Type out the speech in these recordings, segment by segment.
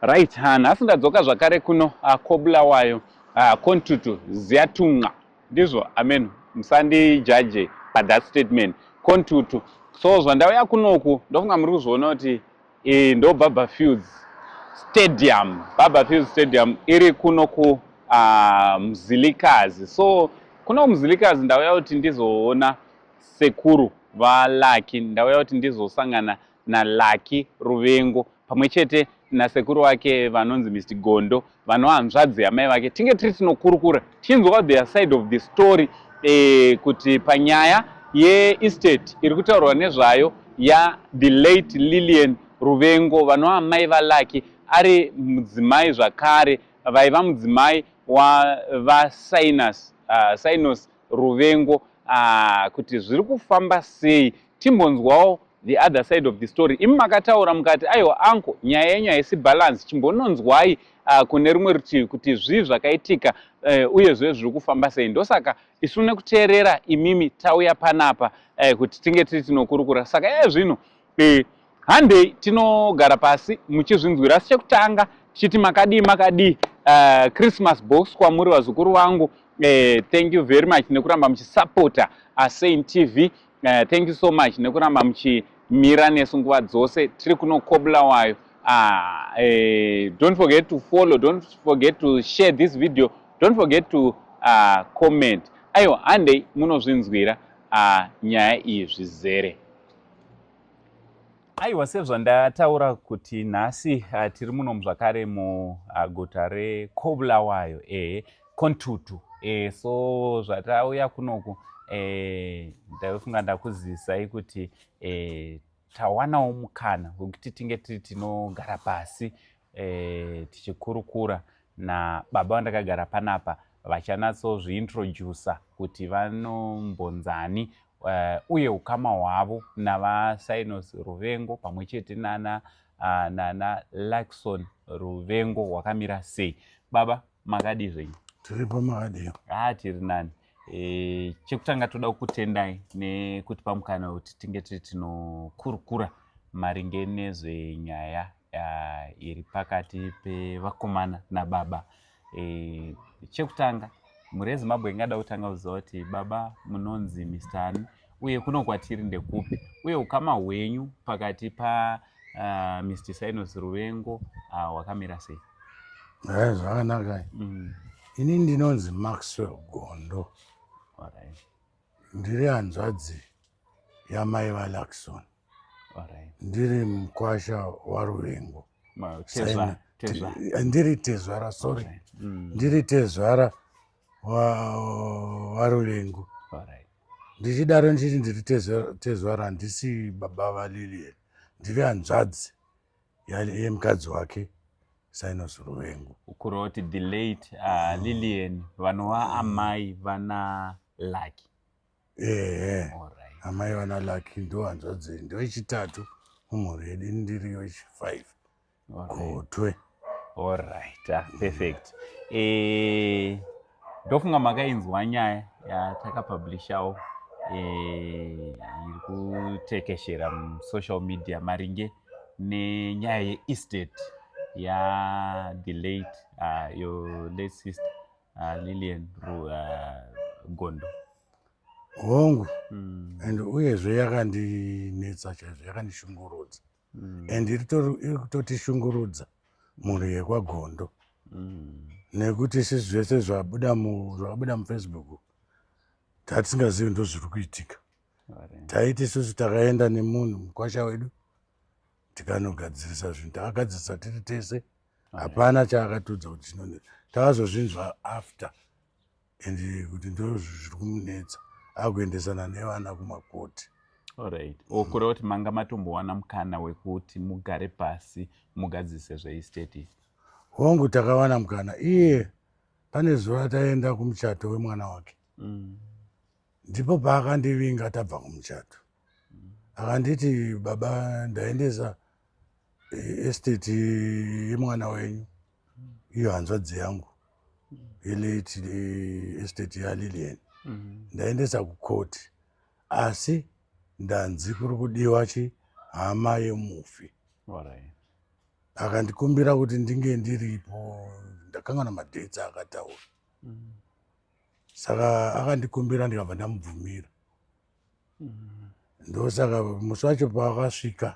Right, ha, nhasi ndadzoka zvakare kuno ah, kobulawayo ah, kontutu ziyatunqa ndizvo amen musandijaje pathat statement kontutu so zvandauya kunoku ndofunga muri kuzviona kuti eh, ndo baba fields stadium baba fields stadium iri kuno ku ah, mzilikazi so kuno kumzilikazi ndauya kuti ndizoona sekuru valaki ndauya kuti ndizosangana naLucky Ruvengo pamwe chete nasekuru wake vanonzi Mr Gondo vanohanzvadzi yamai vake tinge tiri tinokurukura tichinzwawo their side of the story eh, kuti panyaya yeestate iri kutaurwa nezvayo yathe late Lillian Ruvengo vanova mai vaLucky ari mudzimai zvakare vaiva mudzimai wavasinus uh, sinus ruvengo ah, kuti zviri kufamba sei timbonzwawo the other side of the story imi makataura mukati aiwa anko nyaya yenyu haisi balance chimbononzwai uh, kune rumwe rutivi kuti zvii zvakaitika uh, uye zve zviri kufamba sei ndosaka isu nekuteerera imimi tauya panapa uh, kuti tinge tiri tinokurukura saka yaya zvino Eh, handei tinogara pasi muchizvinzwira asi chekutanga tichiti makadii makadii uh, christmas box kwamuri vazukuru vangu eh, thank you very much nekuramba muchisapota asain tv eh, thank you so much nekuramba muchimira nesu nguva dzose tiri kuno kobulawayo ah, eh, don't forget to follow don't forget to share this video don't forget to uh, comment aiwa handei munozvinzwira uh, nyaya iyi zvizere aiwa sezvandataura kuti nhasi uh, tiri muno muzvakare muguta uh, rekobulawayo e kontutu e, so zvatauya kunoku e, ndaifunga ndakuzisai kuti e, tawanawo mukana wekuti tinge tiri tinogara pasi eh, tichikurukura nababa vandakagara panapa vachanatsozviintroducer kuti vanombonzani uh, uye ukama hwavo navasynos ruvengo pamwe chete nana uh, nana luxon ruvengo hwakamira sei baba makadii zvenyu tiripo makadii haa tiri nani E, chekutanga toda kukutendai nekutipa mukana wekuti tinge tiri tinokurukura maringe nezvenyaya uh, iri pakati pevakomana nababa e, chekutanga mhuri yezimbabwe ingada kutanga kuziva kuti baba munonzi mistani uye kuno kwatiri ndekupi uye ukama hwenyu pakati pa uh, ah, mr sinos ruvengo ah, hwakamira uh, sei eh, zvakanaka mm. ini ndinonzi maxwell gondo right. ndiri hanzvadzi yamai valaxon right. ndiri mukwasha waruvengo tezvara, tezvara. ndiri tezvara sorry right. mm. ndiri tezvara waruvengu ndichidaro ndichiti ndiri tezwara handisi baba valilian ndiri hanzvadzi yemukadzi wake sinos ruvengu ukureva kuti the late uh, mm. lilian vanova mm. amai vana laki ehe amai vana laki ndo hanzvadzi ndo yechitatu mumhuri yedu ndiri yechifive gotwe allright ah, perfect eh, ndofunga makainzwa nyaya yatakapublishawo eh, iri kutekeshera musocial media maringe nenyaya yeestate yathe late ah, your late sister ah, lilian gondo hongu hmm. and uyezve yakandinetsa chaizvo yakandishungurudza mm. and iri kutotishungurudza mhuri yekwagondo mm. nekuti isi zvese zvabuda mufacebook tatisingazivi ndo zviri kuitika taiti isusu takaenda nemunhu mukwasha wedu tikanogadzirisa zvinhu takagadzirisa tiri tese hapana chaakatiudza kuti chinonei takazozvinzwa after and kuti ndizvo zviri kumunetsa akuendesana nevana kumakoti orit o kureva kuti manga matombowana mukana wekuti mugare pasi mugadzise zveisteti hongu takawana mukana iye pane zuva taenda kumuchato wemwana wake mm. ndipo paakandivinga tabva kumuchato akanditi baba ndaendesa eh, esteti yemwana wenyu iyo hanzvadzi yangu ilate eh, esteti yalilian mm-hmm. ndaendesa kukoti asi ndanzi kuri kudiwa chi hama yemufi akandikumbira kuti ndinge ndiripo ndakangana madetsi akataura mm-hmm. saka akandikumbira ndikabva ndamubvumira mm. ndosaka musi wacho paakasvika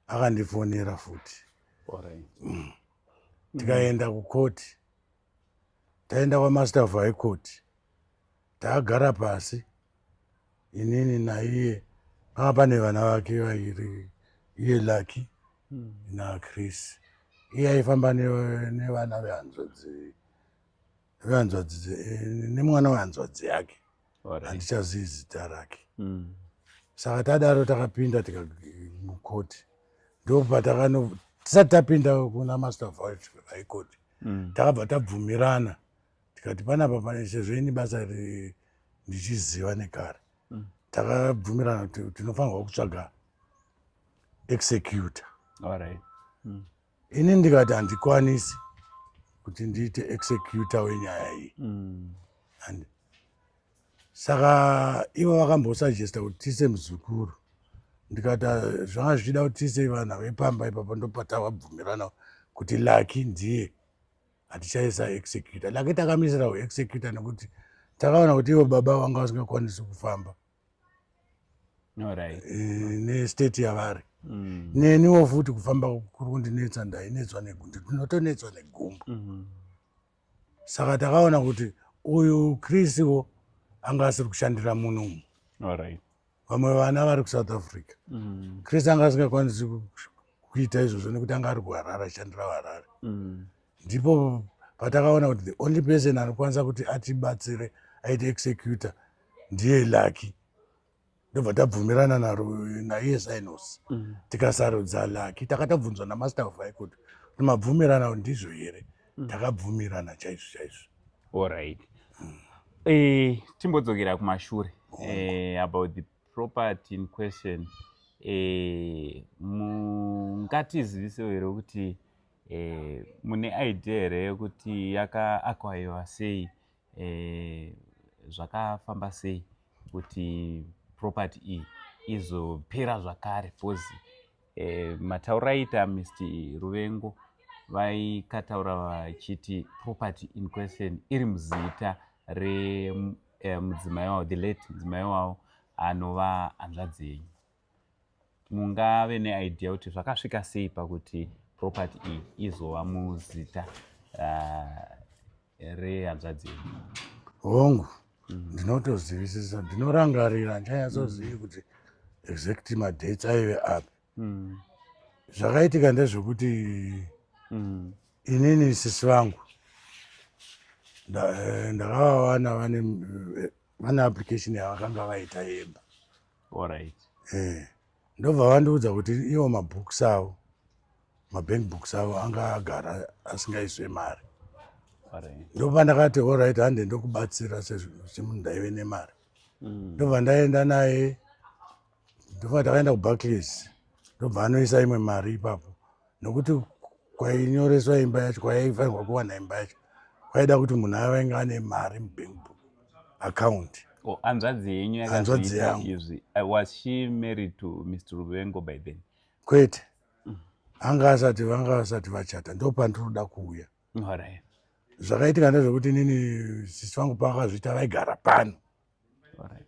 akandifonera futi mm. tikaenda kukoti taenda kwamaster of high court taagara pasi inini naiye panga pane vana vake vairi iye lucky mm. nachris iye aifamba nevana vehanzvadzi vehanzvadzi nemwana wehanzvadzi yake handichazivi zita rake mm. saka tadaro takapinda tikamukoti ndopatakano tisati tapinda kuna master of high court mm. takabva tabvumirana tikati panapa pane sezvo ini basa ndichiziva nekare mm. takabvumirana kuti tinofanirwa kutsvaga executor ini ndikati handikwanisi kuti ndiite executor wenyaya iyi mm. and saka ivo vakambosuggesta kuti tiise muzukuru ndikati ah, zvanga zvichida kuti tiise vana vepamba ipapo ndopatavabvumirana kuti laki ndiye hatichaisa executor laki takamisira uexecutor nekuti takaona kuti ivo baba vanga vasingakwanisi kufamba right. Eh, nestate yavari mm. neniwo futi kufamba kuri kundinetsa ndainetswa negundu ndinotonetswa negumbu mm -hmm. saka takaona kuti uyu krisiwo anga asiri kushandira munhu umu right. vamwe vana vari kusouth africa mm. krisi anga asingakwanisi kuita izvozvo nekuti anga ari kuharare ashandira harare mm. ndipo patakaona kuti the only person anokwanisa kuti atibatsire aite executor ndiye lucky ndobva tabvumirana naro naiye sinos mm. tikasarudza lucky takatabvunzwa namaster of high court kuti mabvumirana ndizvo here mm. takabvumirana chaizvo chaizvo allright mm. eh, timbodzokera kumashure eh, about the property in question eh, mungatizivisewo here kuti Eh, mune idea here yekuti yakaakwayiwa sei eh, zvakafamba sei kuti property iyi izopera zvakare bcause eh, matauro aita mist ruvengo vaikataura vachiti property in question iri muzita remudzimai eh, wavo the late mudzimai wavo anova hanzvadzi yenyu mungave neidea kuti zvakasvika sei pakuti property iyi izova muzita uh, rehanzvadzi yenyu hongu mm. ndinotozivisisa ndinorangarira ndichanyatsozivi mm. kuti exact madates aive api mm. zvakaitika ndezvekuti mm. inini sisi vangu eh, ndakavawana vane eh, vane application yavakanga vaita yemba Alright. Eh. Ndobva vandiudza kuti iwo mabooks avo mabank books avo anga agara asingaiswe mari. Alright. Ndobva ndakati alright hande ndokubatsira semunhu ndaive nemari. Mm. Ndobva ndaenda naye ndobva takaenda kuBarclays. Ndobva anoisa imwe mari ipapo. nokuti kwainyoreswa imba yacho kwayaifanirwa kuwana imba yacho kwaida kuti munhu avainge ane mari mubank book account oh, hanzvadzi yenyu hanzvadzi yangu izvi uh, was she married to mr ruvengo by then kwete mm. anga asati vanga vasati vachata ndo pandinoda kuuya right. zvakaitika ndezvekuti nini sisi vangu pavakazviita vaigara pano right.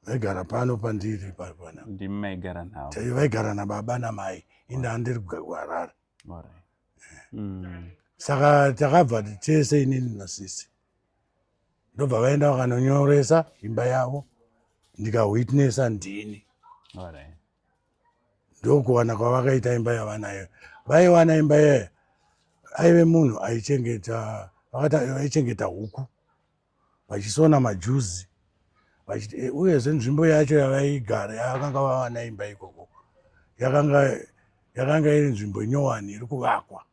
vaigara pano pandiri paipana ndimi maigara navo chaiyo vaigara nababa namai inde andiri kugara kuharare mm. saka takabva tese inini nasisi ndobva vaenda vakanonyoresa imba yavo ndikawitnessa ndini ndokuwana kwavakaita imba yavanayo vaiwana imba yeye aive munhu aichengeta vakati aichengeta huku vachisona majuzi vachiti eh, uyezve nzvimbo yacho yavaigara yakanga vava naimba ikoko yakanga yakanga iri nzvimbo nyowani iri kuvakwa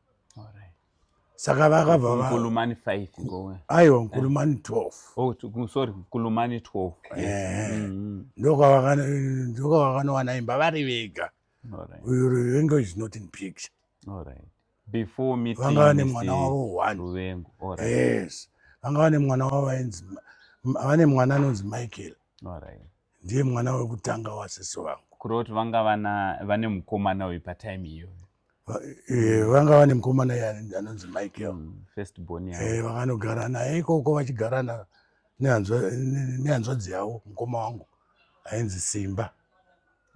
saka vakabva vakulumani 5 ngowe aiwa nkulumani 12 oh to, sorry nkulumani 12 eh mm -hmm. ndoka vakana ndoka vakanowana imba vari vega all right you will enjoy is not in picture all right before meeting vanga vane mwana wavo one ruvengo all right yes vanga vane mwana wavo ainzi vane mwana anonzi michael all right ndiye mwana wekutanga wasisi vangu kureva kuti vanga vana vane mukomana uyu patime iyo eh, vanga vane mukomana anonzi michael mm, first born yavo eh, vakanogara naye ikoko vachigarana nehanzvadzi yavo mukoma wangu ainzi simba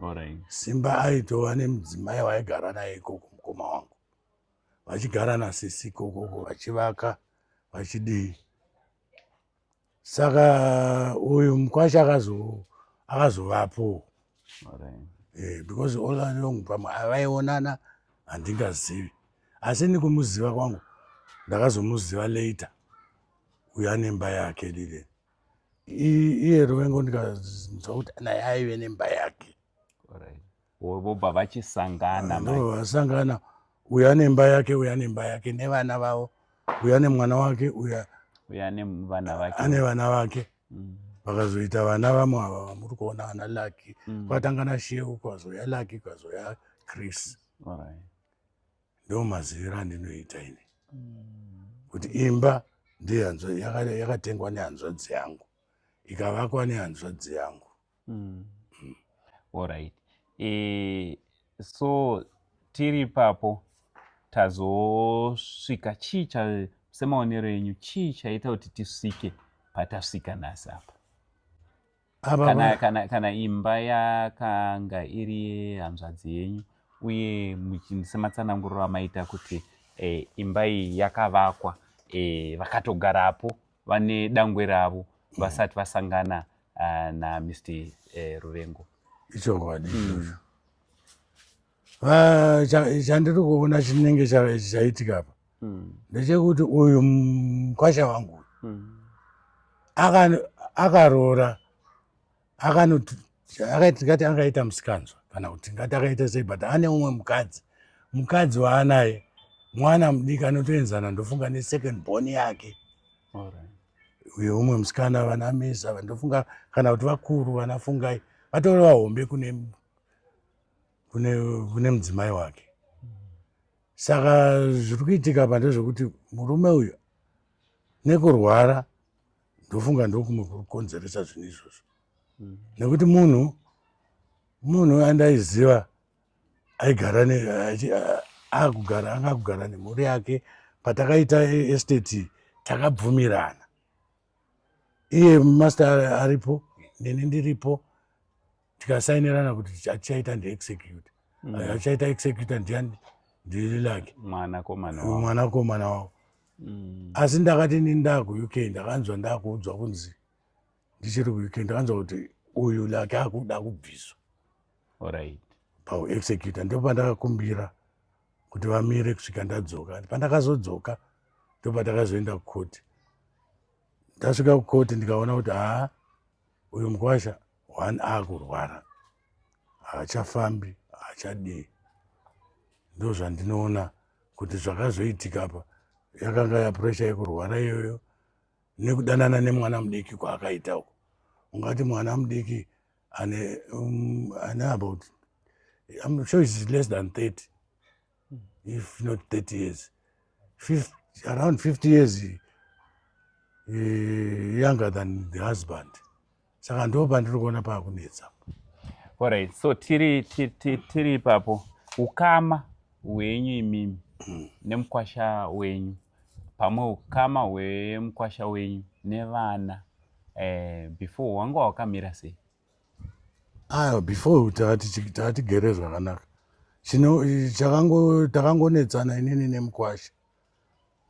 Alright. Simba aitova nemudzimai waigara naye ikoko mukoma wangu vachigara nasisi ikokoko vachivaka vachidii saka uyu mukwasha akazovapo eh, because all along pamwe avaionana handingazivi asi nikumuziva kwangu ndakazomuziva later uyo anemba yake lile iye ruvengo ndikanzwa kuti naye aive nemba yake vobva vachisangana vasangana uyu ane mba yake uyu ane mba yake nevana vavo uyu ane mwana wake uyu ane vana vake mm. vakazoita vana vamwe ava vamuri kuona vana laki mm. kwatanga nasheu kwazouya laki kwazouya chris ndo maziviro andinoita ini kuti imba yakatengwa nehanzvadzi yangu ikavakwa nehanzvadzi yangu mm. Mm. orit e, eh, so tiri papo tazosvika chii cha semaonero enyu chii chaita kuti tisvike patasvika nhasi apa kana, kana, kana imba yakanga iri yehanzvadzi yenyu uye sematsananguriro amaita kuti e, imba iyi yakavakwa e, vakatogarapo vane dangwe ravo vasati vasangana uh, namr e, ruvengo ichokwadi mm. chandiri kuona chinenge chaitika apa hmm. ndechekuti uyu mkwasha wangu hmm. akaroora akatingati angaita musikanzwa kana kuti tingati akaita sei but ane umwe mukadzi mukadzi waanaye mwana mudiki anotoenzana ndofunga nesecond born yake uye umwe musikana vana mesa ndofunga kana kuti vakuru vanafungai vatori vahombe kune kune, kune mudzimai wake saka zviri kuitika apa ndezvekuti murume uyu nekurwara ndofunga ndokumwe kuri kukonzeresa zvinhu izvozvo mm. nekuti munhu munhu andaiziva aigara akugara anga kugara nemhuri yake patakaita esteti takabvumirana iye master aripo nini ndiripo tikasainirana kuti atichaita ndiexecute mm. achaita executa ndiani ndililake mwanakomana wavo mm. asi ndakati ni ndaku uk ndakanzwa ndakuudzwa kunzi ndichiri kuuk ndakanzwa kuti uyu lake akuda kubviswa pauexecuta ndipo pandakakumbira kuti vamire kusvika ndadzoka pandakazodzoka ndipo pandakazoenda kukoti ndasvika kukoti ndikaona kuti haa uyu mukwasha one akurwara haachafambi haachadii ndozvandinoona kuti zvakazoitika pa yakanga yapuresha yekurwara iyoyo nekudanana nemwana mudiki kwaakaita uko ungati mwana mudiki ane um, ane about I'm sure it's less than 30 if not 30 years 50, around 50 years uh, younger than the husband saka ndo pandiri kuona paakunetsa orit so tiri tiri ipapo ukama hwenyu imimi hmm. nemukwasha wenyu pamwe ukama hwemukwasha wenyu nevana eh, before wanga wakamira sei aya before taatigere zvakanaka chino chakango takangonetsana inini nemukwasha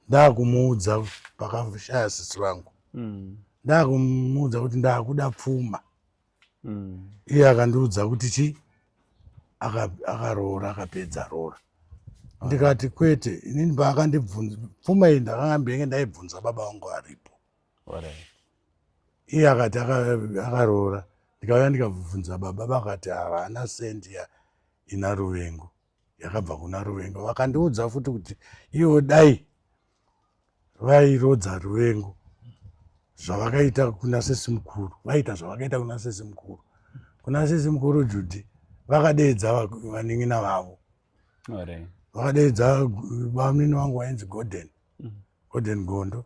ndakumuudza pakashaya sisi vangu mm. ndakumuudza kuti ndakuda pfuma mm. iye akandiudza kuti chi akaroora akapedza roora ah. ndikati kwete inini paakandibvunza pfuma iyi ndakangambenge ndaibvunza baba vangu aripo iye akati akaroora ndikauya ndikabvunza baba vakati havana sendi ina ruvengo yakabva kuna ruvengo vakandiudza futi kuti ivo dai vairodza ruvengo zvavakaita kuna sesi mukuru vaita zvavakaita kuna sesi mukuru kuna sesi mukuru judhi vakadeedza vanin'ina vavo vakadeedza vamunini vangu vainzi golden mm. golden gondo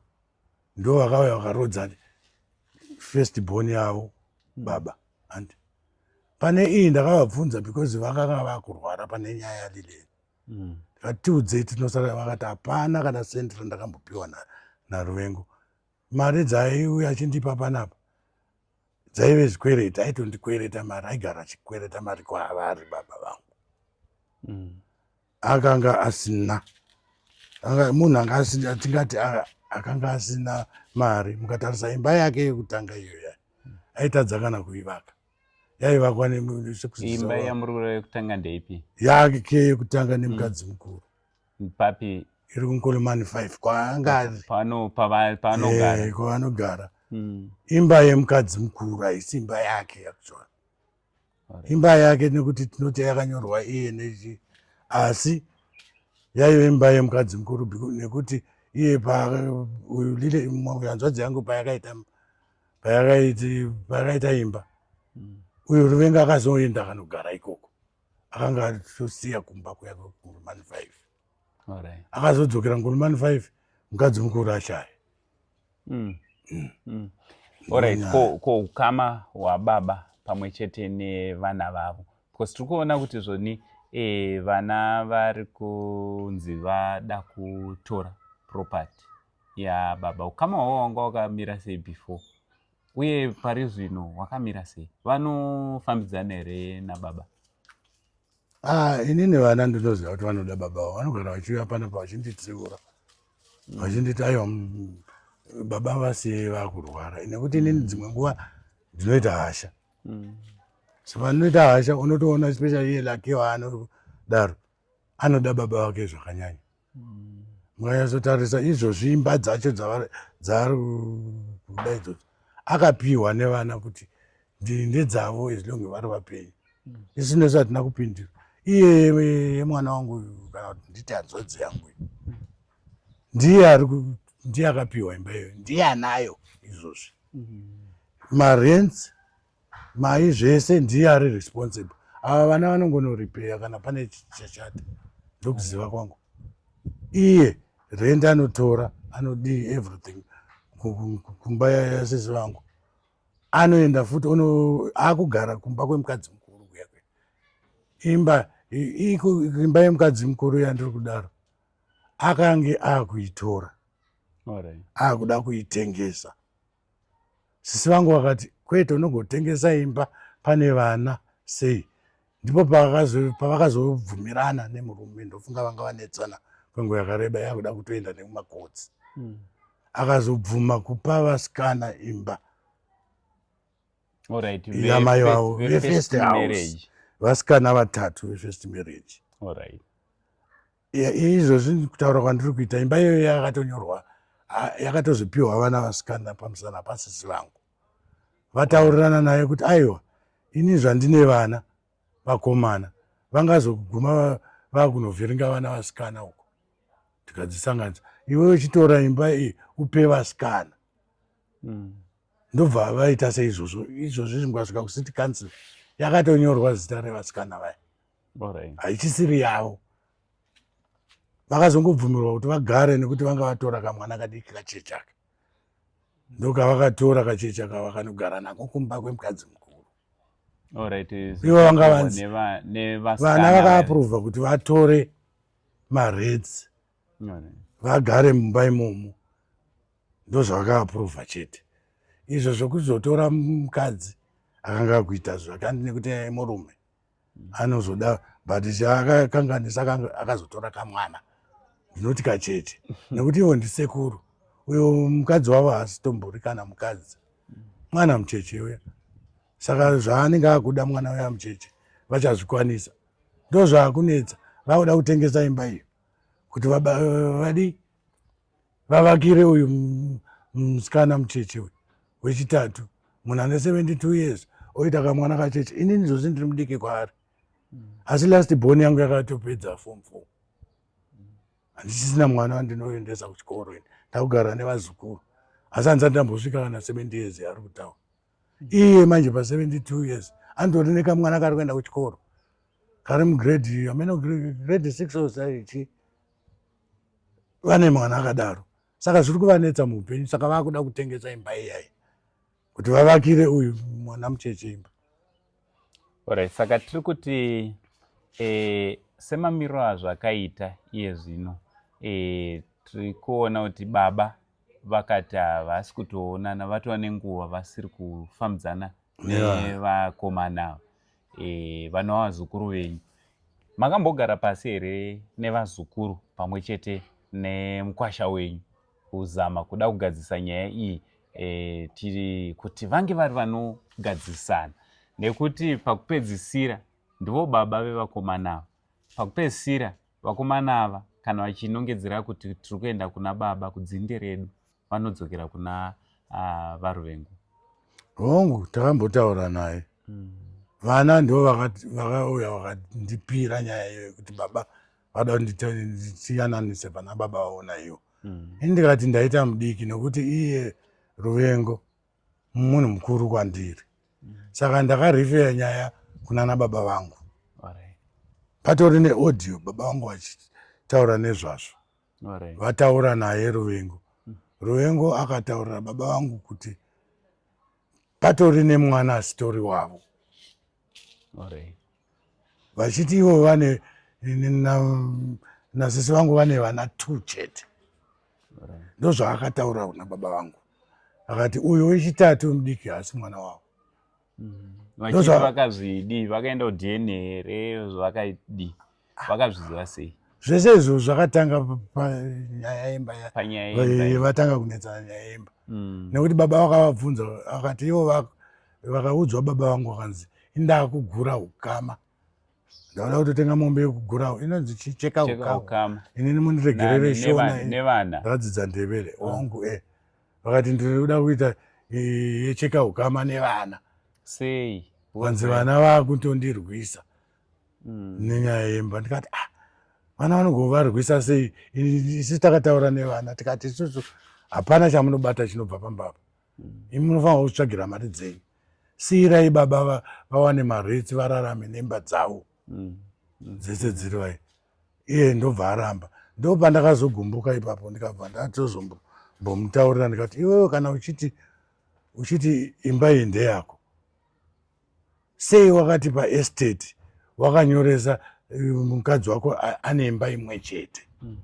ndo vakauya vakarodza first born yavo baba and pane iyi ndakavabvunza because vakanga vakurwara pane nyaya yalileni mm. vatiudzei tinosara vakati hapana kana sendi randakambopiwa naruvengo mari dzaiuya achindipa panapa dzaive zvikwereti aitondikwereta mari aigara achikwereta mari kwaavari baba vangu mm. akanga asina munhu anga asina tingati akanga asina mari mukatarisa imba yake yekutanga iyo ya aitadza kana kuivaka yaivakwa neimba yamuri kureva yekutanga ndeipi yake yekutanga nemukadzi mukuru papi iri kunkolomani five kwaanogara eh, hmm. imba yemukadzi mukuru haisi imba yake actually imba yake nekuti tinoti yakanyorwa eneg asi yaive imba yemukadzi mukuru nekuti iye hanzvadzi yangu payakaita payakaita imba mm. uyo ruvenga akazoenda akanogara ikoko akanga atosiya kumba kuya kuman five akazodzokera ngoni mani five mukadzi mukuru ashaya mm. mm. mm. orit ko, ko ukama hwababa pamwe chete nevana vavo because tiri kuona kuti zvoni e, vana vari kunzi vada kutora property yababa ukama hwavo wanga wakamira sei before uye pari zvino wakamira sei vanofambidzana here nababa Ah, inini vana ndinoziva kuti vanoda baba vavo vanogara vachiuya panapa vachinditsiura vachinditi aiwa mm, baba vasiyei vakurwara nekuti inini mm. dzimwe nguva ndinoita hasha mm. so pandinoita hasha unotoona special iye lake waanodaro anoda baba vake zvakanyanya mukanyatsotarisa izvozvi imba dzacho dzaari kuda idzodzo akapiwa nevana kuti ndedzavo as long vari vapenyu isu nesu hatina kupindira iye yemwana wangu kana kuti nditi hanzodzi yangu ndiye ari ndiye akapiwa imba iyoyo ndiye anayo izvozvi marents Mai zvese ndiye ari responsible. Ava vana vanongono repair kana pane chachata. Ndokuziva kwangu. Iye rent anotora anodii everything kumba yasisi vangu. Anoenda futi ono akugara kumba kwemukadzi mukuru kuya kuya. Imba imba yemukadzi mukuru yandiri kudaro akange akuitora. Akuda kuitengesa. sisi vangu vakati kwete unogotengesa imba pane vana sei ndipo pavakazobvumirana nemurume ndofunga vanga vanetsana kwenguva yakareba yakuda kutoenda nekumakotsi hmm. akazobvuma kupa vasikana imba yamai vavo vefirst house vasikana vatatu vefirst marriage izvozvi kutaura kwandiri kuita imba iyoyo yakatonyorwa yakatozopiwa vana vasikana pamusana pasisi vangu vataurirana naye kuti aiwa ini zvandine vana vakomana vangazoguma vakunovhiringa vana vasikana uko tikadzisanganisa iwe uchitora imba iyi upe vasikana hmm. ndobva vaita seizvozvo izvozvi zvingasvika kusiti council yakatonyorwa zita revasikana vaya haichisiri yavo vakazongobvumirwa kuti vagare nekuti vanga vatora kamwana kadiki kachechaka ndokavakatora kachechaka vakanogara nako kumba kwemukadzi mukuru ivo vanga vanzi vana vakaapruvha kuti vatore mareds vagare mumba imomo ndozvavakaapruvha chete izvo zvokuzotora mukadzi akanga akuita zvakandi nekuti murume anozoda but chaakakanganisa akazotora kamwana ndinoti kachete nekuti ivo ndisekuru uyo mukadzi wavo haasitombori kana mukadzi mwana mucheche uya saka zvaanenge akuda mwana uya mucheche vachazvikwanisa ndozvaakunetsa vakuda kutengesa imba iyo kuti vadii vavakire uyu musikana mucheche uyu wechitatu munhu ane 72 years oita kamwana kacheche inini zvozi ndiri mudiki kwaari asi last born yangu yakatopedza form four handisisina mwana wandinoendesa kuchikoro ini ndakugara nevazukuru asi handisati ndambosvika kana 70 years ari kutaura iye manje pa 72 years anditori nekamwana kari kuenda kuchikoro kari mugrade ameno grade six or zaichi vane mwana akadaro saka zviri kuvanetsa muupenyu saka vakuda kutengesa imba iyayi kuti vavakire uyu mwana mucheche imba orit saka tiri kuti e, semamiro azvo akaita iye zvino e, tiri kuona kuti baba vakati havasi kutoonana vatova nenguva vasiri kufambidzana nevakomana ava e, vana vazukuru venyu makambogara pasi here nevazukuru pamwe chete nemukwasha wenyu kuzama kuda kugadzisa nyaya iyi e, tiri kuti vange vari vanogadzisana nekuti pakupedzisira ndivo baba vevakomana ava pakupedzisira vakomana ava kana vachinongedzera kuti tiri kuenda kuna baba kudzinde redu vanodzokera kuna uh, varuvengu hongu takambotaura naye mm. vana ndo vakauya vakandipira nyaya iyo yekuti baba vada kundisiyananise pana baba vaona iyo mm. ini ndikati ndaita mudiki nokuti iye ruvengo munhu mukuru kwandiri mm. saka ndakarifeya nyaya kunana baba vangu patori neaudio baba vangu vachitaura nezvazvo vataura naye ruvengo mm. ruvengo akataurira baba vangu kuti patori nemwana asitori wavo vachiti ivo vane nasisi vangu vane vana two chete ndozvaakataura kuna baba vangu akati uyu wechitatu mudiki haasi mwana wavo vachiti vakazvidii vakaenda kudna here zvavakaidii vakazviziva sei zvese izvo zvakatanga panyaya yemba vatanga kunetsana nyaya yemba mm. nekuti baba vakavabvunza vakati ivo vakaudzwa baba vangu vakanzi indaa kugura ukama ndaoda kutotenga mombe yekugura inonzi chicheka ukama inini muniregerere shona ndadzidza ndevere wangu e vakati ndinoda kuita eh, yecheka ukama nevana sei vanzi vana vakutondirwisa mm. nenyaya yemba ndikati ah vana vanogovarwisa sei isu takataura nevana tikati isusu hapana chamunobata chinobva pambapa mm. imi munofanira kutsvagira mari dzenyu siirai baba vawane maretsi vararame nemba dzavo mm. dzese dziri vai iye ndobva aramba ndopandakazogumbuka ipapo ndikabva ndatozombomutaurira ndikati iwewe kana uchiti uchiti imba iyi ndeyako sei wakati paestate wakanyoresa eh, mukadzi wako ane imba imwe chete hmm.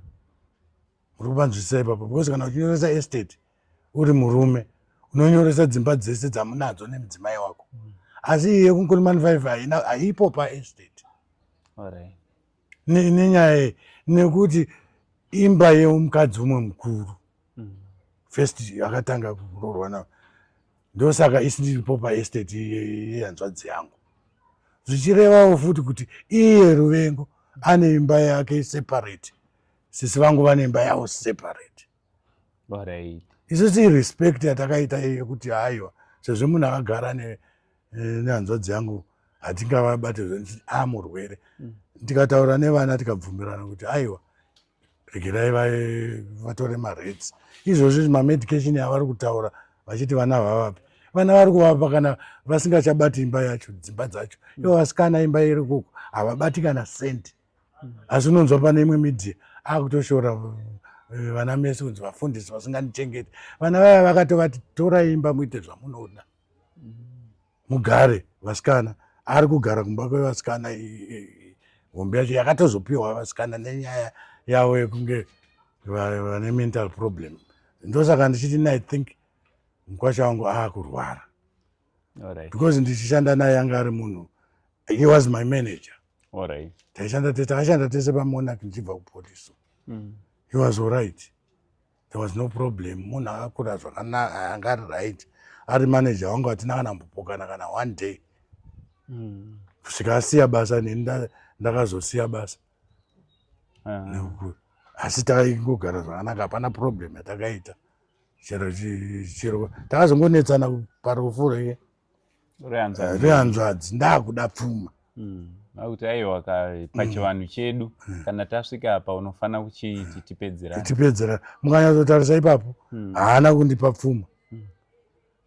uri kuvanzwisisa ipapo because kana uchinyoresa estate uri murume unonyoresa dzimba dzese dzamunadzo nemudzimai wako mm. asi iye kunkurimani five haina haipo paestate nenyaya iyi nekuti imba yemukadzi umwe mukuru mm. first akatanga kurorwa navo ndosaka isiripo paestate yehanzvadzi yangu zvichirevawo futi kuti iye ruvengo ane imba yake separate sisi vangu vane imba yavo separate isisi irespect yatakaita iyo yekuti aiwa sezvo munhu akagara eh, nehanzvadzi yangu hatingavabate zvanti a ah, murwere mm. tikataura nevana tikabvumirana kuti aiwa regerai vatore mareds izvozvi mamedication avari kutaura vachiti vana vavapi vana vari kuvapa kana vasingachabati imba yacho dzimba dzacho ivo vasikana imba iri kuku havabati kana sendi asi unonzwa pane imwe media akutoshora eh, vana mese kunzi vafundisi vasingatichengeti vana vaya vakatovati torai imba muite zvamunoda mugare vasikana ari kugara kumba kwevasikana hombe yacho yakatozopiwa vasikana nenyaya yavo yekunge vane mental problem ndosaka ndichiti ni think mukwasha wangu aakurwara because ndichishanda naye anga ari munhu he was my manager Alright. Taishanda tese, taishanda tese paMonarch ndichibva kupolice. Mm. He was alright. There was no problem. Munhu akakura zvakanaka, anga ari right. Ari manager wangu atina kana mbopokana kana one day. Mm. Kusvika asiya basa neni ndakazosiya basa. Uh. Asi taingogara zvakanaka, hapana problem yatakaita. Chero chero takazongonetsana parufu rake. rehanzvadzi eh, ndakuda pfuma hmm. akuti aiwa pachivanhu hmm. chedu hmm. kana tasvika apa unofanira kuchiti tipedzerana tipedzerana mukanyatsotarisa ipapo haana kundipa pfuma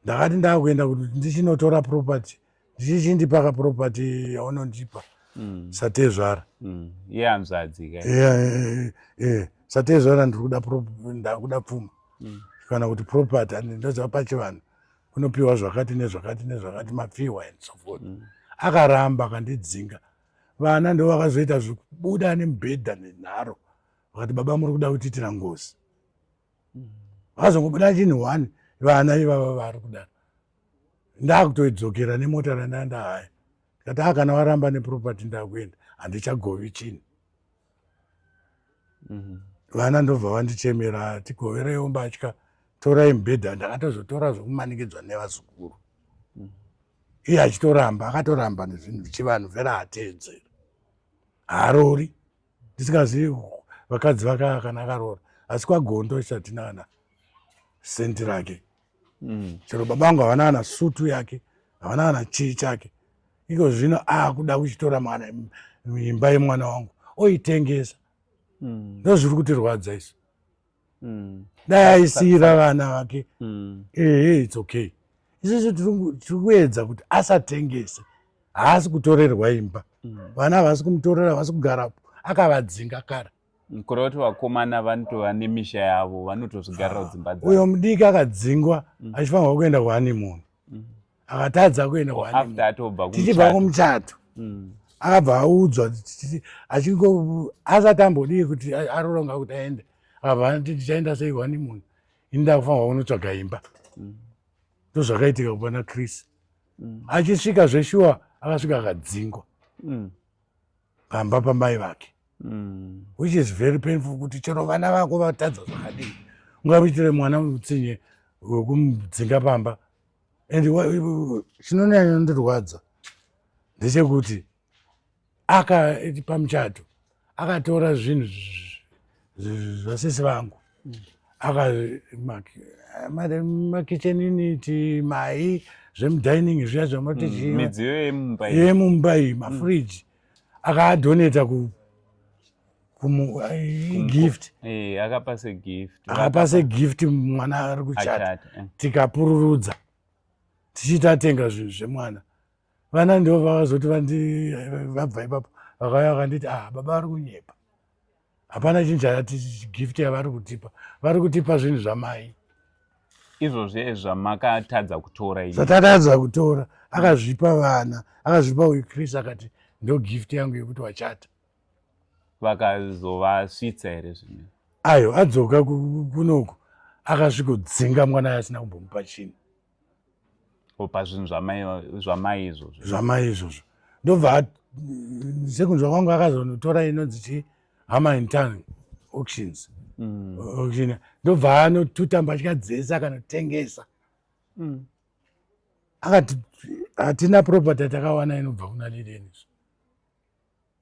ndakati ndakuenda kuti ndichinotora property ndichichindipaka property yaunondipa satezvara yehanzvadzi ka eh, eh, satezvara ndiri kuda pfuma kana kuti property ndoziva pachivanhu unopiwa zvakati nezvakati nezvakati mapfihwa and so forth mm. akaramba akandidzinga vana ndo vakazoita zvekubuda nemubhedha nenharo vakati baba muri kuda kutiitira ngozi mm. vakazongobuda chinhu one vana ivava vari kudaro ndakutoidzokera nemota randanda haya ndikati akana ah, waramba neproperty ndakuenda handichagovi chinhu mhm. vana ndobva vandichemera tigoverewo mbatya torai mubhedha ndakatozotora zvekumanikidzwa nevazukuru mhm. iye achitoramba akatoramba nezvinhu zvichivanhu vera hateedzeri haarori ndisingazivi vakadzi vakaya kana akaroora asi kwagondo isati nana sendi rake mm. chero baba vangu havana kana sutu yake havana kana chii chake iko zvino akuda kuchitora mwana imba yemwana wangu oitengesa mm. ndo zviri kutirwadza isu mm. dai aisiira vana vake mm. ehe its okay isusu tiri kuedza kuti asatengese haasi kutorerwa imba mm. vana havasi kumutorera havasi kugarapo akavadzinga kare kureva kuti vakomana vanotova nemisha yavo vanotozvigarira kudzimba dzavo uyo mudiki akadzingwa mm. achifanirwa kuenda kuhanimuni mm. akatadza kuenda kuhanimutichibva kumuchato mm. akabva audzwa achingo asati ambodii kuti aroronga kuti aende akabva anoti tichaenda sei kuhanimuni ini ndakufanirwa kunotsvaga imba ndozvakaitika kupana chris achisvika zveshuwa akasvika akadzingwa pamba pamai vake mm. which is very painful kuti chero vana vako vatadza zvakadii ungamuitire mwana mutsinye wekumudzinga pamba and chinonyanya ndirwadza ndechekuti aka pamuchato akatora zvinhu zvasisi vangu akazi mari makitchen initi mai zvemudining zviya zvamati mm, chiimidziyo yemumba iyi mafridge mm. akaadoneta ku gift eh, akapa segift akapa segift mwana ari kuchata eh. tikapururudza tichiita atenga zvinhu zvemwana vana ndivo vakazoti vabva ipapo vakauya vakanditi ah baba vari kunyepa hapana chinhu chakati gift yavari kutipa vari kutipa zvinhu zvamai izvozvi zvamakatadza kutora zvatatadza kutora akazvipa vana akazvipa uyu chris akati ndo gift yangu yekuti wachata vakazovasvitsa here zvino ayo adzoka kunoku akasvikodzinga mwana yaasina kumbomupa chinhu pazvinhu zvamai izvozvo zvamai izvozvo ndobva sekunzwa kwangu akazonotora inonzi ti hama intan auctions mm. auction ndobva anotuta mbatya dzese akanotengesa mm. akati hatina property takawana inobva kuna lileni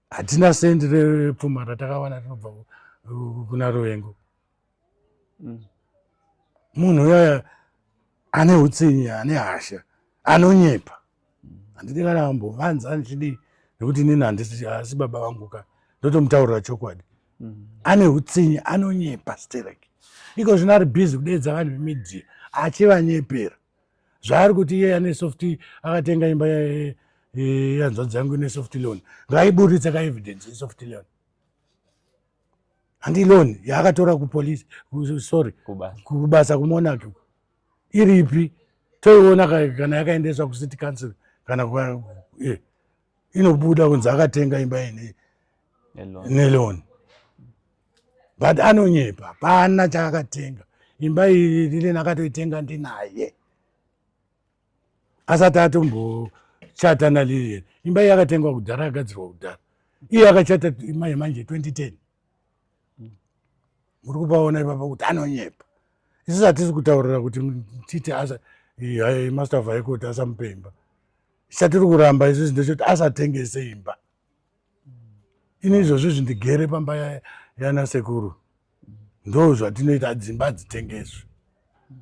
hatina sendi repfuma ratakawana rinobva kuna ruvengo mm. munhu uyaya ane utsinye ane hasha anonyepa handidi kana ambovanza ndichidii nekuti inini handisi asi baba vangu ka ndotomutaurira chokwadi mm. ane utsinye anonyepa sterek iko zvino ari bhizi kudeedza vanhu vemidia achivanyepera zvaari kuti iye ane soft akatenga imba yanzvadzi yangu ine soft loan ngaiburitse ka evidence yesoft loan handi loan yaakatora kupolice sorry kubasa kumonaki iripi toiona kana yakaendeswa kucity council kana eh, inobuda kunzi akatenga imba ine neloni but anonyepa pana chaakatenga imba iyi lileni akatoitenga ndinaye asati atombochata nalileni imba iyi akatengwa kudhara yagadzirwa kudhara iye akachata imba yemanje 2010 muri kupaona ipapa kuti anonyepa isu hatisi kutaurira kuti titi asa master of high court asamupa imba chatiri kuramba isusu ndechoti asatengese imba ini izvozvo izvi ndigere pamba yana sekuru ndo zvatinoita dzimba dzitengeswe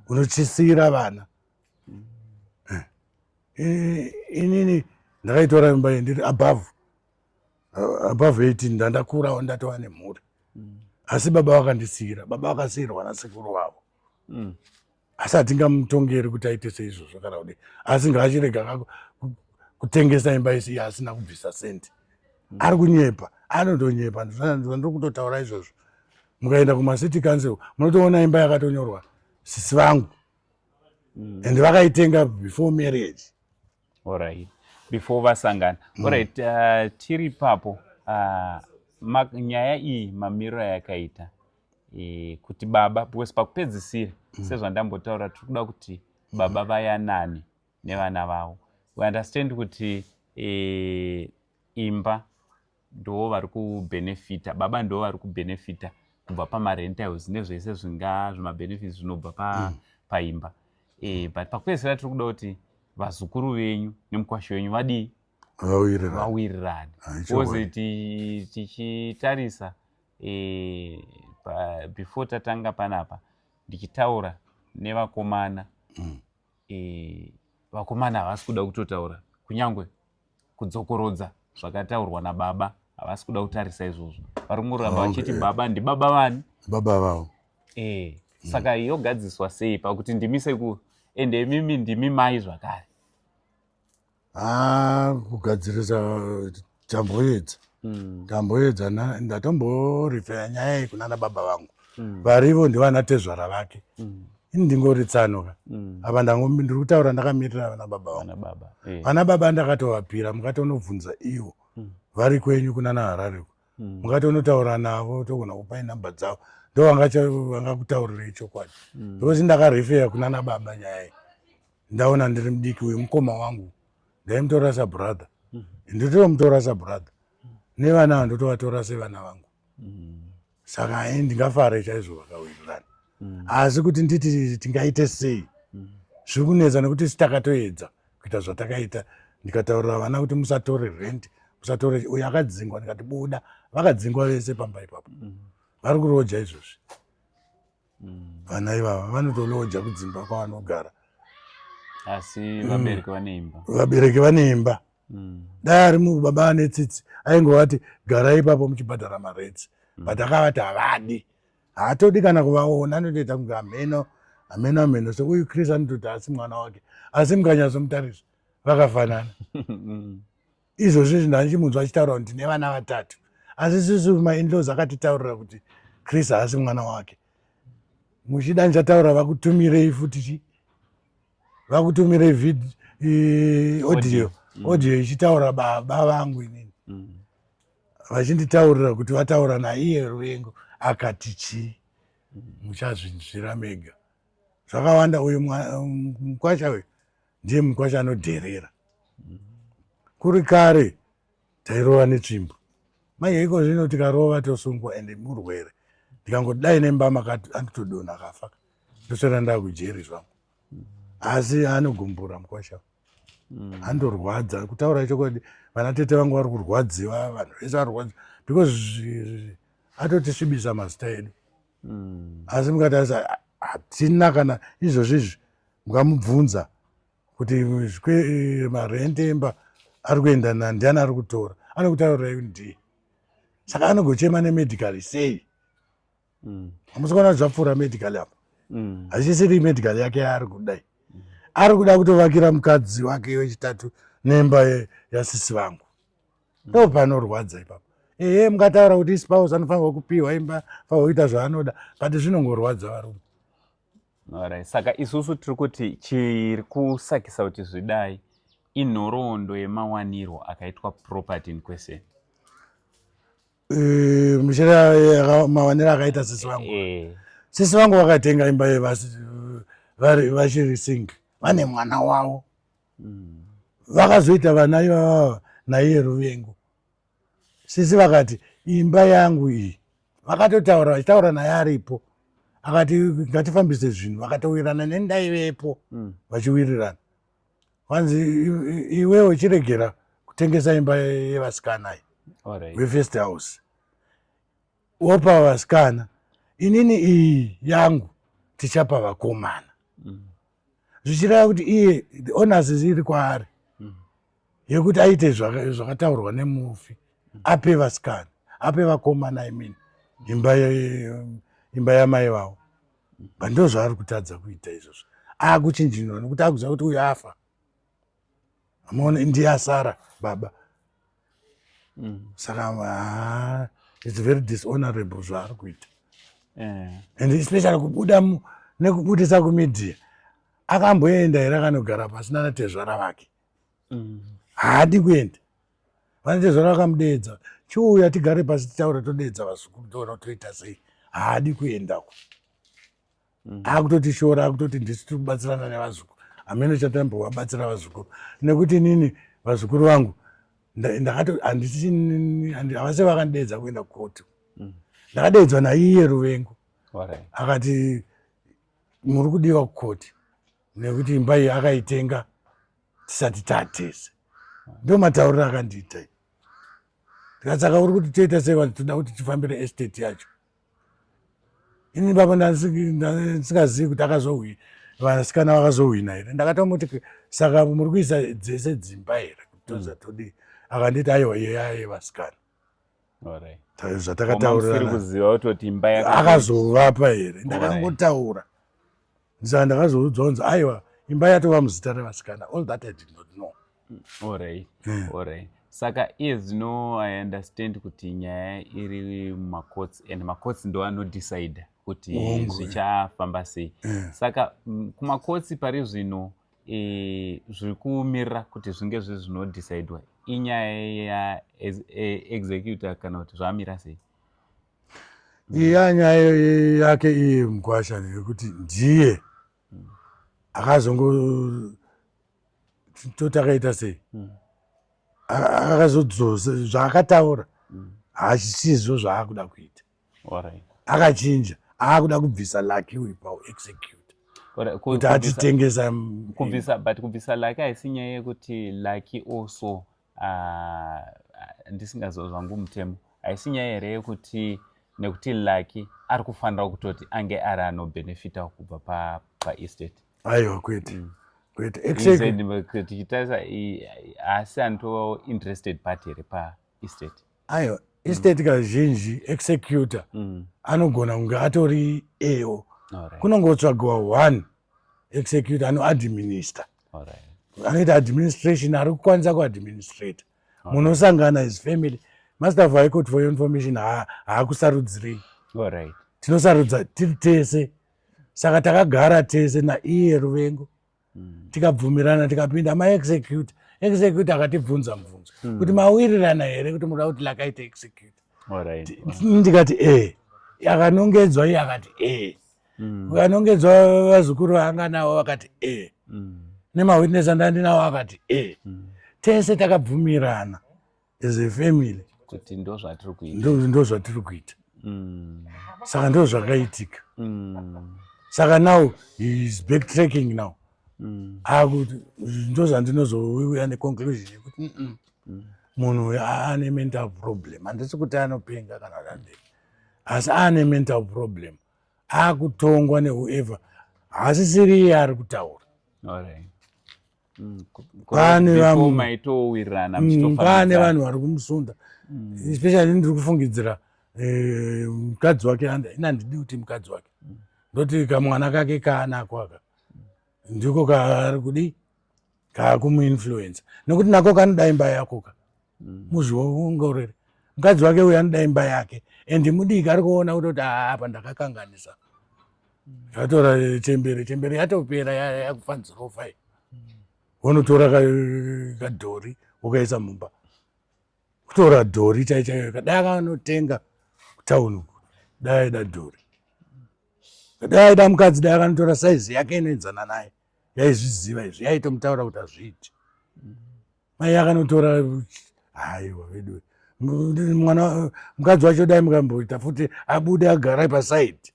unotyisiira vana eh, eh, inini ndakaitora imba iyi ndiri above above 18 ndandakurawo ndatova nemhuri asi baba vakandisiira baba vakasiirwa nasekuru vavo mm. asi hatingamutongeri kuti aite seizvozvo kana kudii asi ngaachirega kutengesa imba isi asina kubvisa sendi mm. ari kunyepa anotonyepa ndiri kutotaura izvozvo mukaenda kumacity council munotoona imba yakatonyorwa sisi vangu mm. and vakaitenga before marriage orit before vasangana mm. orit uh, tiri papo uh, nyaya iyi mamiriro yakaita e, kuti baba because pakupedzisira mm. sezvandambotaura tiri kuda kuti baba vayanane nevana vavo we understand kuti e, imba ndoo vari kubenefita baba ndoo vari kubenefita kubva pamarentals nezvese zvinga zvimabenefits zvinobva pa, mm. paimba e, but pakupedzisira tiri kuda kuti vazukuru venyu nemukwasho wenyu vadii vawirirane tichitarisa e, pa, before tatanga panapa ndichitaura nevakomana mm. e, vakomana havasi kuda kutotaura kunyange kudzokorodza zvakataurwa nababa havasi kuda kutarisa izvozvo vari kungoramba vachiti eh. baba ndibaba vani baba vavo e, saka mm. yogadziswa sei pakuti ndimi sekuru ende imimi ndimi mai zvakare haa kugadzirisa tamboedza hmm. tamboedza ndatomborifeya nyaya iyi kunana baba vangu hmm. varivo ndivana tezvara vake hmm. ini ndingori tsano ka apa ndiri kutaura ndakamirira vana baba vangu eh. vana baba ndakatovapira mukatonobvunza ivo vari kwenyu kunana harariko mukatonotaura navo togona kupai nhamba dzavo ndovangakuta vanga kutaurirei chokwadi because ndakarifeya kunana baba nyaya iyi ndaona ndiri mudiki uyu mukoma wangu ndaimutora sabrother mm. ndotomutora sabrother mm. nevana ava ndotovatora sevana vangu mm. saka ai ndingafare chaizvo vakawirirana mm. asi kuti nditi tingaite sei mm. zviri kunetsa nekuti sitakatoedza kuita zvatakaita ndikataurira vana kuti musatore rent musatore uyo akadzingwa ndikati buda vakadzingwa vese pamba ipapo mm. vari kuroja izvozvi vana ivava vanotoloja kudzimba kwavanogara asi mm. vabereki vane imba vabereki vane imba mm. dai ari munhu baba vane tsitsi aingovati gara ipapo muchibhadhara maredzi mm. but akavati havadi haatodi kana kuvaona anotoita kunge hameno hameno hameno seuyu chris anototi asi mwana wake asi mukanyasomutarisa vakafanana izvozvi izvi ndandichimunzwa achitaura kuti ndine vana vatatu asi sisi mainlos akatitaurira kuti chris haasi mwana wake muchida ndichataura vakutumirei futi chi vakutumirei vid audio mm. audio ichitaura baba vangu inini mm. vachinditaurira kuti vataura naiye ruvengo akati chii mm. muchazvinzvira mega zvakawanda uyu mkwasha uyu ndiye mukwasha anodherera kuri kare tairova netsvimbo manje iko zvino tikarova tosungwa and murwere ndikangodai nembama kati anditodona kafa ndosara ndaa kujeri zvangu asi anogumbura mukwasha mm. andorwadza kutaura chokwadi vana tete vangu vari kurwadziwa vanhu vese varwadzi because atotisvibisa mazita edu mm. asi mukatarisa hatina kana izvozvo izvi mukamubvunza kuti eh, marende emba ari kuenda nandiani ari kutora anokutaurira yu ndiye saka anogochema nemedical sei mm. amusikuona kuti zvapfuura medical apo mm. hazisiri medical yake yaari kudai mm. ari kuda kutovakira mukadzi wake wechitatu nemba yasisi vangu ndo panorwadza ipapo ehe mungataura kuti ispouse anofanirwa kupiwa imba fanirwa kuita zvaanoda but zvinongorwadza varume orit saka isusu tiri kuti chiri kusakisa kuti zvidai inhoroondo yemawanirwo akaitwa property in question eh, muchira eh, mawaniro akaita sisi vangu eh. sisi vangu vakatenga imba yevachiri sing vane mwana wavo vakazoita vana ivava naiye ruvengo sisi vakati imba yangu iyi vakatotaura vachitaura naye aripo akati ngatifambise zvinhu vakatowirirana nendaivepo mm. vachiwirirana kwanzi iwe uchiregera kutengesa imba yevasikana iyi wefirst house wopa vasikana inini iyi yangu tichapa vakomana mm. zvichireva kuti iye the owners iri kwaari mm. yekuti aite zvakataurwa nemufi mm. ape vasikana ape vakomana imini imba imba yamai vavo but ndozvaari kutadza kuita izvozvo akuchinjinwa nekuti akuziva kuti uyu afa amaone ndiye asara baba mm. saka ah, its very dishonorable zvaari kuita yeah. and especially kubuda nekubudisa kumedia akamboenda here akanogara pasi nanatezvara vake mm. haadi mm. kuenda vanatezvara vakamudeedza chiuya tigare pasi titaura todeedza vazukuru toona toita sei haadi kuendako mm. akutoti shora akutoti ndisu tiri kubatsirana nevazukuru hameno chatambovabatsira vazukuru nekuti inini vazukuru vangu ndakatoavasi vakandideedza kuenda kukoti mm. ndakadeedzwa naiye ruvengo akati muri kudiwa kukoti nekuti imba iyi akaitenga tisati tatese ndo matauriro akandiita ndikasaka uri kuti toita sei vanhu toda kuti tifambire estate yacho ini ipapo ndandisikazivi kuti akazohwina vasikana vakazohwina here ndakatomoti saka muri kuisa dzese dzimba here kutoza mm. todii akanditi aiwa yeyaye vasikana zvatakataurirana akazovapa here ndakangotaura Ndisaka ndakazoudzwa kunzi aiwa imba yatova muzita revasikana all that i did not know ory hmm. ory saka iye zvino i understand kuti nyaya iri mumacourts and macourts ndo anodecide kuti eh. zvichafamba sei hmm. saka mm, kumacourts pari zvino e, zviri kumirira kuti zvinge zve zvinodecidewa inyaya ya e, executor kana kuti zvamira sei iya nyaya yake iye mkwasha nekuti ndiye mm. akazongo toti akaita sei mm. akazodzosa zvaakataura mm. hazvisizvo zvaakuda kuita akachinja aakuda kubvisa laki uyu paexecute kuti atitengesa kubvisa but kubvisa laki haisi nyaya yekuti laki also handisingaziva zvangu mutemo haisi nyaya here yekuti nekuti lucky ari kufanira kutoti ange ari anobhenefita kubva paestate aiwa kwete mm. kwete exactly. tichitarisa haasi anotova interested party here paestate aiwa estate mm. kazhinji executor mm. anogona kunge atori eo kunongotsvagiwa one executor anoadminister anoita administration ari kukwanisa kuadministrata munosangana his family master of high court for your information haakusarudzirei tinosarudza tiri tese saka takagara tese naiye ruvengo hmm. tikabvumirana tikapinda maexecute execute akatibvunza mubvunzo hmm. kuti mawirirana here kuti muda kuti lakaita execute ndikati e akanongedzwa iye akati e mm. ukanongedzwa vazukuru vaanga navo vakati e mm. nemawitness andandinawo akati e mm. tese takabvumirana as a family kuti ndo zvatiri kuita ndo zvatiri kuita mm. saka ndo zvakaitika mm. saka now heis backtracking now mm. akuti ndo zvandinozouya neconclusion yekuti mm -mm. mm. munhu uyo aane mental problem handisi kuti anopenga kana kuti andei asi aane mental problem akutongwa newhoever haasisiri iye ari kutaura mm, pane mm, vanhu vari kumusunda mm. especially ndiri kufungidzira eh, mukadzi wake ina ndidi kuti mukadzi wake ndoti kamwana kake kaanako aka ndiko kaari kudii kaa kumuinfluencer nekuti nako kanoda imba yakoka mm. muzviongorere mukadzi wake uyo anoda imba yake and mudiki ari kuona kutoti ah, apa ndakakanganisa yatora mm. eh, chembere chembere yatopera yakufanzirofa i mm. wonotora kadhori wokaisa mumba kutora dhori chaichaiyo kadai akanotenga kutauni uku dai aida dhori kadai aida mukadzi dai akanotora saizi yake inoenzana naye yaizviziva izvi yaitomutaura kuti hazviiti mai akanotora haiwa veduwe mwana mukadzi wacho dai mukamboita futi abude agara pasaidi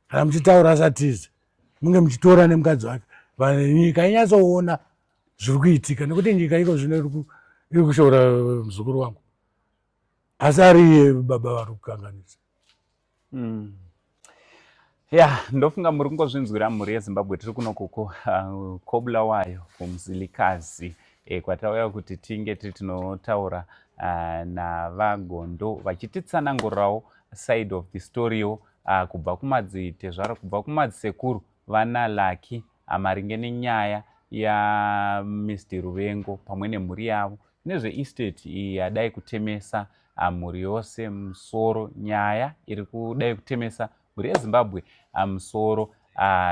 kana muchitaura asatize munge muchitora nemukadzi wake nyika inyatsoona zviri kuitika nekuti nyika iko zvino iri kushoora muzukuru wangu asi ariye baba vari kukanganisa Mm. Ya, ndofunga muri kungozvinzwira mhuri yeZimbabwe tiri kuno kuko uh, kobulawayo kumzilikazi e, eh, kwatauya kuti tinge tiri tinotaura uh, navagondo vachititsanangurirawo side of the story yo uh, kubva kumadzitezvara kubva kumadzisekuru vana laki ah, maringe nenyaya yamsd ruvengo pamwe nemhuri yavo nezveestate iyi yadai kutemesa ah, mhuri yose musoro nyaya iri kudai kutemesa mhuri yezimbabwe ah, musoro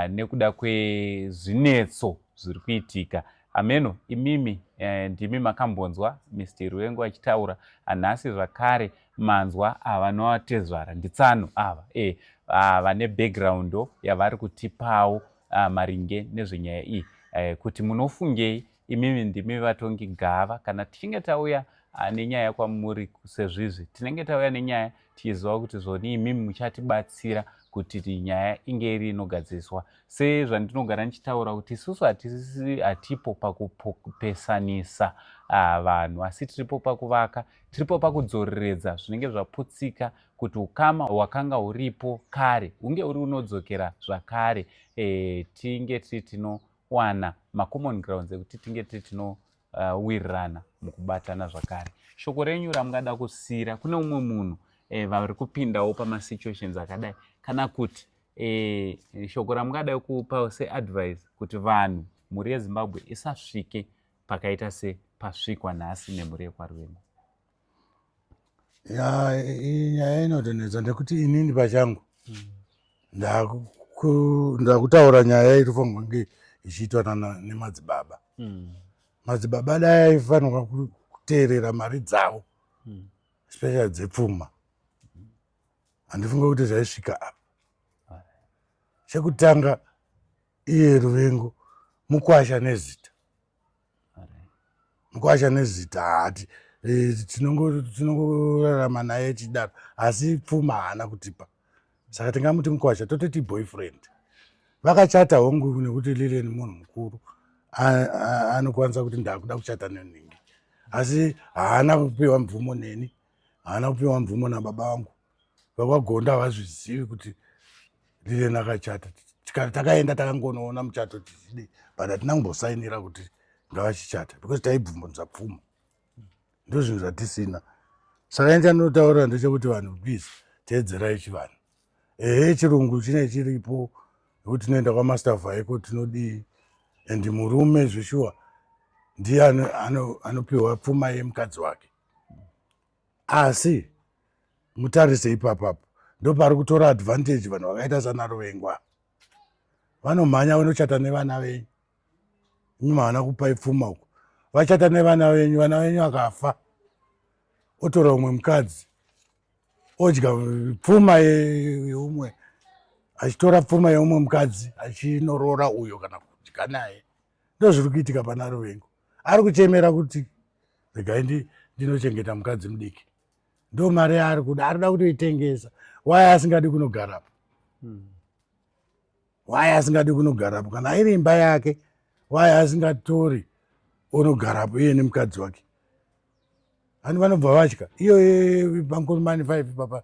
nekuda kwezvinetso zviri kuitika ameno imimi eh, ndimi makambonzwa msd ruvengo achitaura nhasi zvakare manzwa ava vanovatezvara nditsano ava e ah, vane background yavari kutipawo ah, maringe nezvenyaya iyi eh, kuti munofungei imimi ndimi vatongi gava kana tichinge tauya ah, nenyaya kwamuri sezvizvi tinenge tauya nenyaya tichiziva kuti zvoni imimi muchatibatsira kuti nyaya inge iri inogadziriswa sezvandinogara ndichitaura kuti isusu hatipo pakupesanisa ah, vanhu asi tiripo pakuvaka Tiripo pakudzoreredza zvinenge zvaputsika kuti ukama hwakanga huripo kare hunge uri unodzokera zvakare e, tinge tiri tinowana macommon grounds ekuti tinge tiri tinowirirana eh, uh, mukubatana zvakare shoko renyu ramungada kusiyira kune umwe munhu e, vari kupindawo pamasituations akadai kana kuti e, shoko ramungada kupawo seadvice kuti vanhu mhuri yezimbabwe isasvike pakaita sepasvikwa nhasi nemhuri yekwaruvengo ya iyi nyaya inotonetsa ndekuti inini pachangu ndakutaura nyaya irifanirwa kunge ichiitwa nemadzibaba hmm. madzibaba dai aifanirwa kuteerera mari dzavo hmm. special dzepfuma handifunge kuti zvaisvika apa chekutanga iye ruvengo mukwasha nezita mukwasha nezita hati eh, tinongorarama naye chidaro asi pfuma haana kutipa saka tingamuti mukwasha tototi boyfriend vakachata hongu nekuti lileni munhu mukuru anokwanisa kuti ndakuda kuchata nenhingi asi haana kupiwa mvumo neni haana kupiwa mvumo nababa vangu vakwagonda havazvizivi kuti lileni akachata tikati takaenda takangonoona muchato tichidii but hatina kumbosainira kuti ngavachichata because taibvumbunza pfuma ndo zvinhu zvatisina saka ini chandinotaurira ndechekuti vanhu please teedzerai chivanhu ehe chirungu chine chiripo nekuti tinoenda kwamaster vaiko tinodii and murume zveshuwa ndiye anopiwa pfuma yemukadzi wake asi mutarise ipapapo ndopari kutora advantage vanhu vakaita sanarovengwa vanomhanya vanochata nevana venyu imi maana kupai pfuma uko vachata nevana venyu vana venyu akafa otora umwe mukadzi odya pfuma yeumwe achitora pfuma yeumwe mukadzi achinoroora uyo kana kudya naye ndozviri kuitika pana ruvengo ari kuchemera kuti regai ndi ndinochengeta mukadzi mudiki ndo mari yaari kuda arida kutoitengesa waye asingadi kunogarapo hmm. waye asingadi kunogarapo kana iri imba yake waye asingatori onogarapo iye nemukadzi wake vanhu vanobva vatya iyoye pankurumani five papa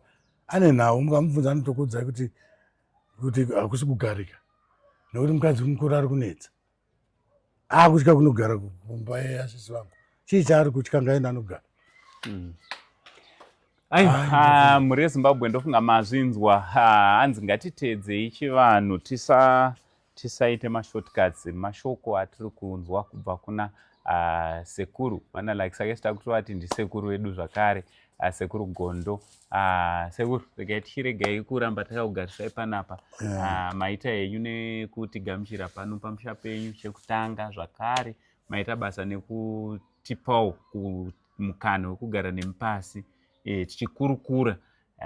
ane nhau mukamubvunza anotokuudzai kuti kuti hakusi kugarika nekuti mukadzi mukuru ari kunetsa akutya kunogara kumba yeasisi vangu chii chaari kutya ngaenda anogara hmm. aiwa mhuri yezimbabwe ndofunga mazvinzwa hanzi ngatiteedzei chivanhu tisa Tisaite mashortcuts mashoko atiri kunzwa kubva kuna uh, sekuru vana like sake sita kutovati ndisekuru vedu zvakare uh, sekuru gondo uh, sekuru regai tichiregai kuramba takakugarisai panapa yeah. uh, maita henyu nekutigamuchira pano pamusha penyu chekutanga zvakare maita basa nekutipawo mukana wekugara nemupasi e, tichikurukura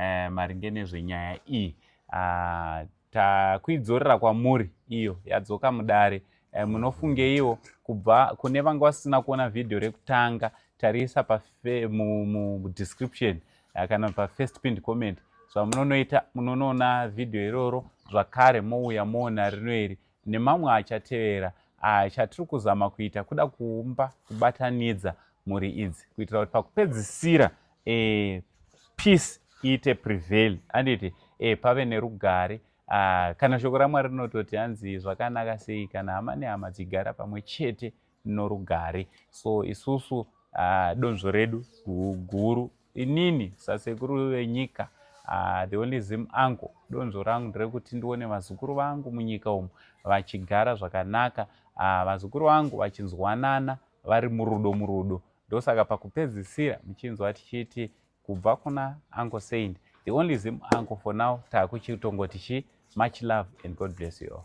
e, maringe nezvenyaya iyi ah, takuidzorera kwamuri iyo yadzoka mudare eh, munofungeiwo kubva kune vanga vasina kuona vhidhiyo rekutanga tariisa pamudescription eh, kana pafirst pind comment zvamunonoita munonoona vhidhiyo iroro zvakare mouya moona rino iri nemamwe achatevera aya chatiri kuzama kuita kuda kuumba kubatanidza mhuri idzi kuitira kuti pakupedzisira e, peace iite prevail anditi e, pave nerugare uh, kana shoko ramwari rinototi hanzi zvakanaka sei kana hama nehama dzigara pamwe chete norugare so isusu uh, donzvo redu guru inini sasekuru venyika uh, the only zim anko donzvo rangu nderekuti ndione vazukuru vangu munyika umu vachigara zvakanaka uh, vazukuru vangu vachinzwanana vari murudo murudo ndosaka pakupedzisira muchinzwa tichiti kubva kuna anko saint the only zim anko for now taakuchitongoti chi much love and god bless you all